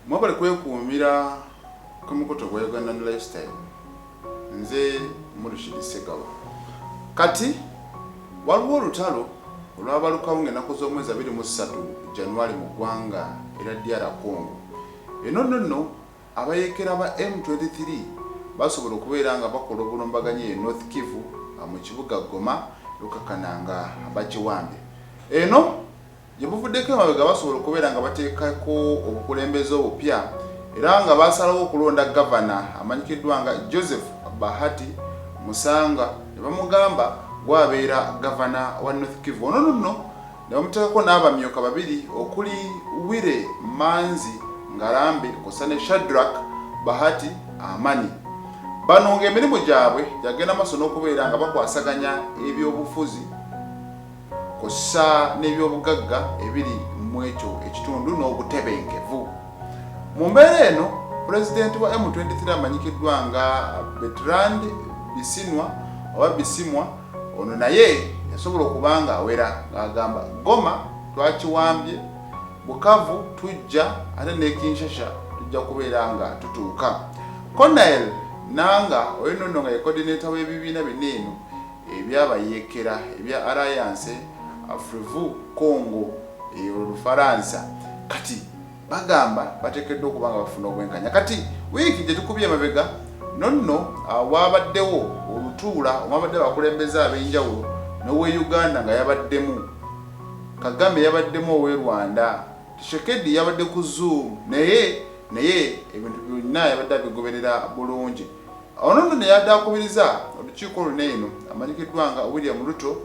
mwebale kwekuumira ku mukutu gwa uganda ne lifestyle nze murishidi segawa kati waliwo olutalo olwabalukawo ngaenaku z'omwezi abiri mu ssatu januari mu ggwanga era dr congo eno nonno Abayeekera ba M twenty three basobola okubeera nga bakola obulumbaganyi e North Kivu mu kibuga Goma Rukakana nga bakiwambye. Eno gye buvuddeko emabega basobola okubeera nga bateekako obukulembeze obupya era nga baasalawo okulonda Gavana amanyikiddwa nga Joseph Bahati Musanga ne bamugamba gw'abeera Gavana wa North Kivu. Ono nno ne bamuteekako n'abamyuka babiri okuli Wire Manzi Ngarambe kw'ossa ne Shadrack Bahati Amani. Bano ng'emirimu gyabwe gyagenda maaso n'okubeera nga bakwasaganya ebyobufuzi kw'ossa n'ebyobugagga ebiri mu ekyo ekitundu n'obutebenkevu. Mu mbeera eno Pulezidenti wa M23 amanyikiddwa nga Bertrand Bisinwa oba Bisimwa, Ono naye yasobola okuba ng'awera ng'agamba Goma twakiwambye, Bukavu tujja ate ne Kinshasha tujja kubeera nga tutuuka. Colonel Nanga oyo nonno nga ye coordinator w'ebibiina bina eno ebyabayeekera ebya Alliance Afrivu Congo eyo Lufaransa kati Bagamba batekeddwa okuba nga bafuna obwenkanya. Kati wiiki gyetukubye emabega nonno waabaddewo olutuula omwabadde abakulembeze abenjawulo nowe Uganda nga yabaddemu Kagame, yabaddemu owe Rwanda, Tshisekedi yabadde ku zoom naye naye ebintu byonna yabadde abigoberera bulungi. Ono nno neyadde akubiriza olukiiko luno eno amanyikiddwa nga William Ruto,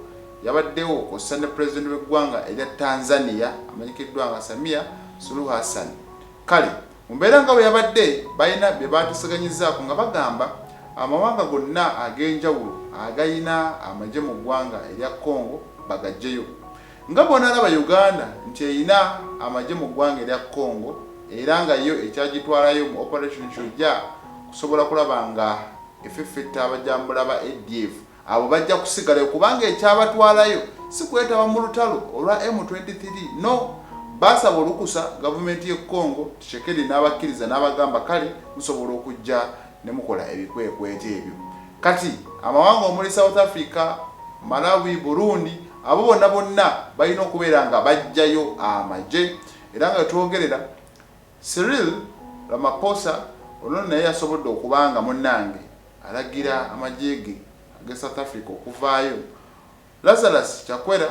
yabaddewo kwossa ne Pulezidenti w'eggwanga erya Tanzania amanyikiddwa nga Samia Suluhu Hassan. Kale mu mbeera nga bwe yabadde balina bye baateseganyizaako nga bagamba amawanga gonna ag'enjawulo agalina amagye mu ggwanga erya Congo bagaggyeyo nga bw'onaalaba Uganda nti erina amagye mu ggwanga erya Congo era nga yo ekyagitwalayo mu Operation Shujaa kusobola kulaba nga efeffetta abajambula ba ADF. Abo bajja kusigalayo kubanga ekyabatwalayo si kwetaba mu lutalo olwa M23. No. Baasaba olukusa gavumenti y'e Congo, Tshisekedi n'abakkiriza n'abagamba kale musobola okujja ne mukola ebikwekweto ebyo. Kati amawanga omuli South Africa, Malawi, Burundi abo bonna bonna balina okubeera nga bajjayo amagye era nga we twogerera, Cyril Ramaphosa ono naye yasobodde okuba nga munnange alagira amagye ge ag'e South Africa okuvaayo. Lazarus Chakwera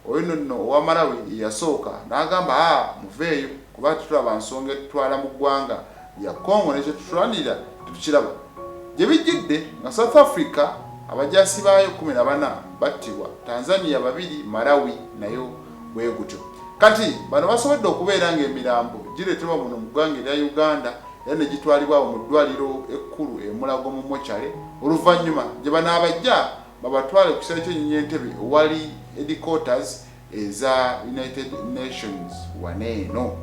oyo nno owa Malawi ye yasooka n'agamba haa muveeyo kuba tetulaba nsonga etutwala mu ggwanga lya Congo ne kye tutulwanirira tetukiraba. Gye bijjidde nga South Africa abajaasi baayo kkumi na bana battibwa, Tanzania babiri, Malawi nayo. bwe gutyo. Kati bano basobodde okubeera ng'emirambo gireetebwa muno mu ggwanga erya Uganda era ne gitwalibwa awo mu ddwaaliro ekkulu e Mulago mu mochale oluvannyuma gye banaabaggya babatwale ku kisaawe ky'ennyonyi e Ntebe owali headquarters eza United Nations wano eno.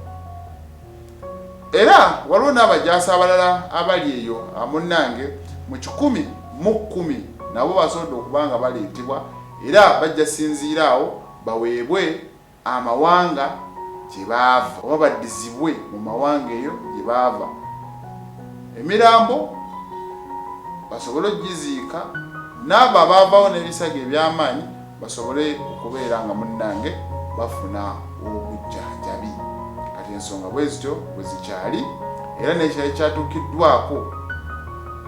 Era waliwo n'abajaasi abalala abali eyo amunnange mu kikumi mu kkumi nabo basobodde okuba nga baleetebwa era bajja sinziira awo baweebwe amawanga gye baava oba baddizibwe mu mawanga eyo gye baava, emirambo basobole okugiziika, n'abo abaavaawo n'ebisago eby'amaanyi basobole okubeera nga munnange bafuna obujjanjabi. Kati ensonga bwe zityo bwe zikyali era n'ekirala kyatuukiddwako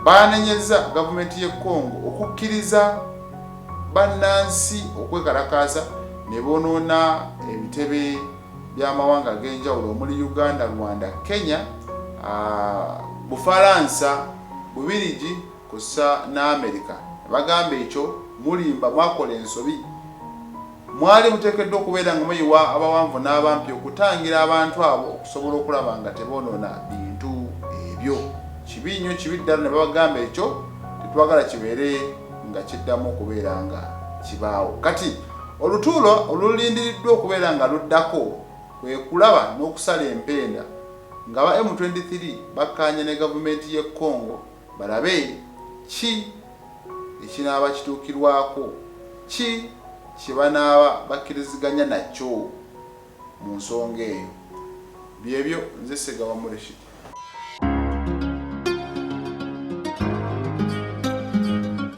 baanenyezza gavumenti y'e Congo okukkiriza bannansi okwekalakaasa ne bonoona ebitebe by'amawanga ag'enjawulo omuli Uganda, Rwanda, Kenya, Bufalansa, Bubirigi kwossa ne Amerika ne bagamba ekyo mulimba mwakola ensobi Mwali muteekeddwa okubeera nga muyiwa abawanvu n'abampi okutangira abantu abo okusobola okulaba nga teboonona bintu ebyo. Kibi nnyo, kibi ddala. Ne babagamba, Ekyo tetwagala kibeere nga kiddamu okubeera nga kibaawo. Kati, olutuula olulindiriddwa okubeera nga luddako kwe kulaba n'okusala empenda ng'aba M23 bakkaanya ne gavumenti y'e Congo, balabe ki ekinaaba kituukirwako, ki kye banaaba bakkiriziganya nakyo mu nsonga eyo. Byebyo, nze Ssegawa Murishid.